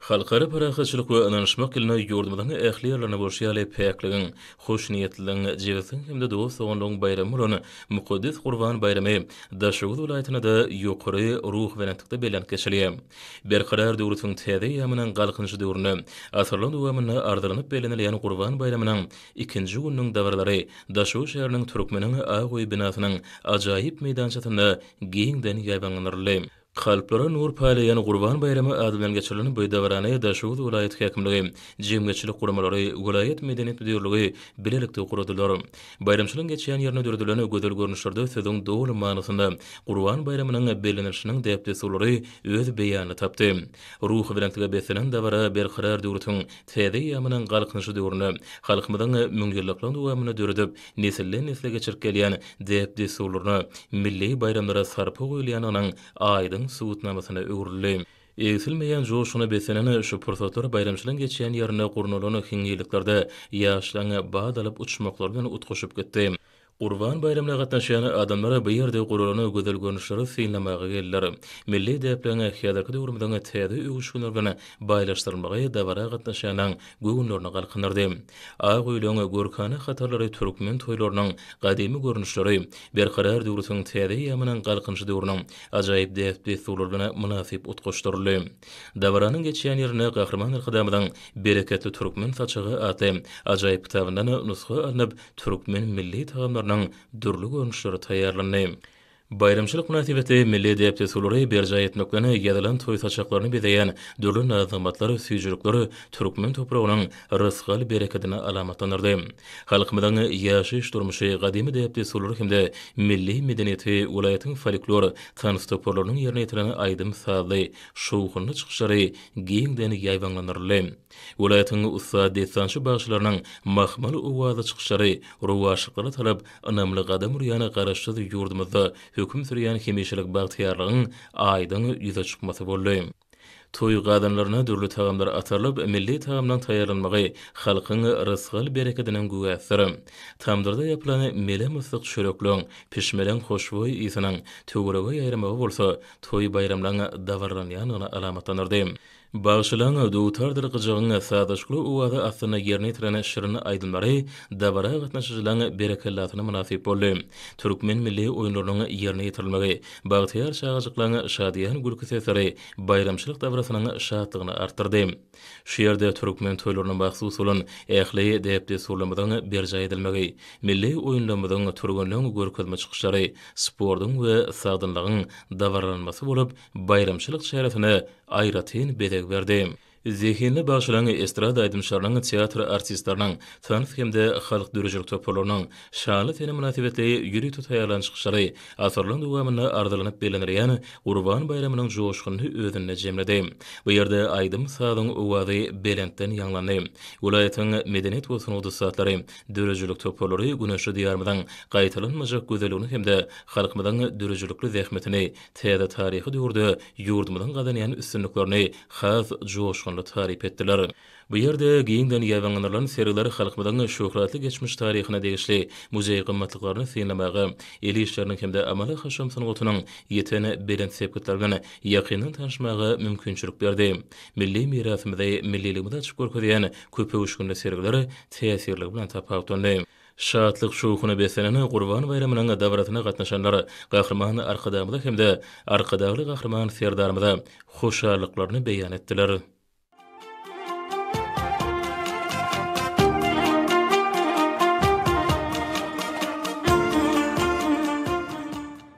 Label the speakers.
Speaker 1: Halkara parahatçylyk we ynanyşmak ýylyna ýurdumyzyň ähli ýerlerinde bolşy ýaly päkligiň, hoşniýetliligiň, jebisligiň hem-de dost-doganlygyň baýramy bolan mukaddes Gurban baýramy Daşoguz welaýatynda-da ýokary ruhubelentlikde bellenip geçilýär. Berkarar döwletimiziň täze eýýamynyň Galkynyşy döwründe asyrlar dowamynda arzylanyp bellenilýän Gurban baýramynyň ikinji gününiň dabaralary Daşoguz şäheriniň Türkmeniň ak öýi binasynyň ajaýyp meýdançasynda giňden ýaýbaňlandyryldy. Kalplara nur paýlaýan Gurban baýramy ady bilen geçirilen bu dabarany Daşoguz welaýat häkimligi, jemgyýetçilik guramalary, welaýat medeniýet müdirligi bilelikde guradylar. Baýramçylygyň geçýän ýerinde döredilen gözel görnüşlerde sözüň doly manysynda Gurban baýramynyň bellenilişiniň däp-dessurlary öz beýanyny tapdy. Ruhubelentlige beslenen dabara Berkarar döwletiň täze eýýamynyň Galkynyşy döwründe, halkymyzyň müňýyllyklygyň dowamynda döredip nesilden-nesle geçirip gelýän däp-dessurlaryna, milli baýramlara sarpa goýulýandygynyň aýdyň subutnamasyna öwrüldi. Egsilmeýän joşguna beslenen şu pursatlar baýramçylygyň geçýän ýerinde gurnalan hinňirliklerde ýaşlaryň bad alyp uçmaklary bilen utgaşyp gitdi. Gurban baýramyna gatnaşýan adamlar bu ýerde guralan gözel görnüşleri synlamaga geldiler. Milli däpleriň häzirki döwrümiziň täze öwüşginleri bilen baýlaşdyrylmagy dabara gatnaşýanlaryň göwünlerini galkyndyrdy. Ak öýlüň görkana hatarlary türkmen toýlarynyň gadymy görnüşleri, Berkarar döwrütiň täze eýýamynyň Galkynyşy döwrüniň ajaýyp däp-dessurlary bilen mynasyp utgaşdyryldy. Dabaranyň geçýän ýerinde Gahryman Arkadagymyzyň Bereketli türkmen saçagy atly ajaýyp kitabyndan nusga alnyp, türkmen milli tagamlarynyň dürli görnüşleri taýýarlandy. Baýramçylyk mynasybetli milli däp-dessurlary berjaý etmek bilen ýazylan toý saçaklaryny bezeýän dürli naz-nygmatlar, süýjülikler türkmen topragynyň rysgal-berekedini alamatlandyrdy. Halkymyzyň ýaşaýyş-durmuşy, gadymy däp-dessurlary hem-de milli medeniýeti, welaýatyň folklor, tans toparlarynyň ýerine ýetiren aýdym-sazly, şowhunly çykyşlary giňden ýaýbaňlandyryldy. Welaýatyň ussat dessançy bagşylarynyň mahmal owaza çykyşlary rowaçlyklara tarap ynamly gadam urýan Garaşsyz ýurdumyzda höküm sürýän hemişelik bagtyýarlygyň aýdyň ýüze çykmasy boldy. Toý gazanlaryna dürli tagamlar atarylyp, milli tagamlaryň taýýarlanmagy halkyň rysgal-berekediniň güwäsidir. Tamdyrda ýapylan melem ysyk çörekleň, pişmelän hoşboý ysynyň töwerege ýaýramagy bolsa toý-baýramlaryň dabaralanýandygyny alamatlandyrdy. Bagşylaň dutardyr gyjagyň sazlaşykly owazy astynda ýerine ýetiren şirin aýdymlary dabara gatnaşyjylaň berekellasyna mynasyp boldy. Türkmen milli oýunlarynyň ýerine ýetirilmegi, bagtyýar çagajyklaň şadyýan gülki sesleri baýramçylyk dabarasynyň şatlygyny artdyrdy. Şu ýerde türkmen toýlaryna mahsus bolan ähli däp-dessurlarymyzyň berjaý edilmegi, milli oýunlarymyzyň, türgenleň görkezme çykyşlary, sportuň we sagdynlygyň dabaralanmasy bolup, baýramçylyk çäresine aýratyn bezeg berdi. Zehinli bagşylaryň, estrada aýdymçylarynyň, teatr artistleriniň, tans hem-de halk döredijilik toparlarynyň şanly sene mynasybetli ýüri to taýýarlan çykyşlary asyrlaryň dowamynda arzylanyp bellenilýän Gurban baýramynyň joşgunyny özünde jemledi. Bu ýerde aýdym-sazyň owazy belentden ýaňlandy. Welaýatyň medeniýet we sungat ussatlary, döredijilik toparlary güneşli Diýarymyzyň gaýtalanmajak gözelligini hem-de halkymyzyň döredijilikli zähmetini täze taryhy döwürde ýurdumyzyň gazanýan üstünliklerini has joşgunly taryp etdiler. Bu ýerde giňden ýaýbaňlandyrylan sergiler halkymyzyň şöhratly geçmiş taryhyna degişli muzeý gymmatlyklaryny synlamaga, el işleriniň hem-de amaly-haşam sungatynyň ýeten belent sepgitleri bilen ýakyndan tanyşmaga mümkinçilik berdi. Milli mirasymyzy, milliligimizi açyp görkezýän köpöwüşginli sergiler täsirligi bilen tapawutlandy. Şatlyk-şowhuna beslenen Gurban baýramynyň dabarasyna gatnaşanlar Gahryman Arkadagymyza hem-de Arkadagly Gahryman Serdarymyza hoşallyklaryny beýan etdiler.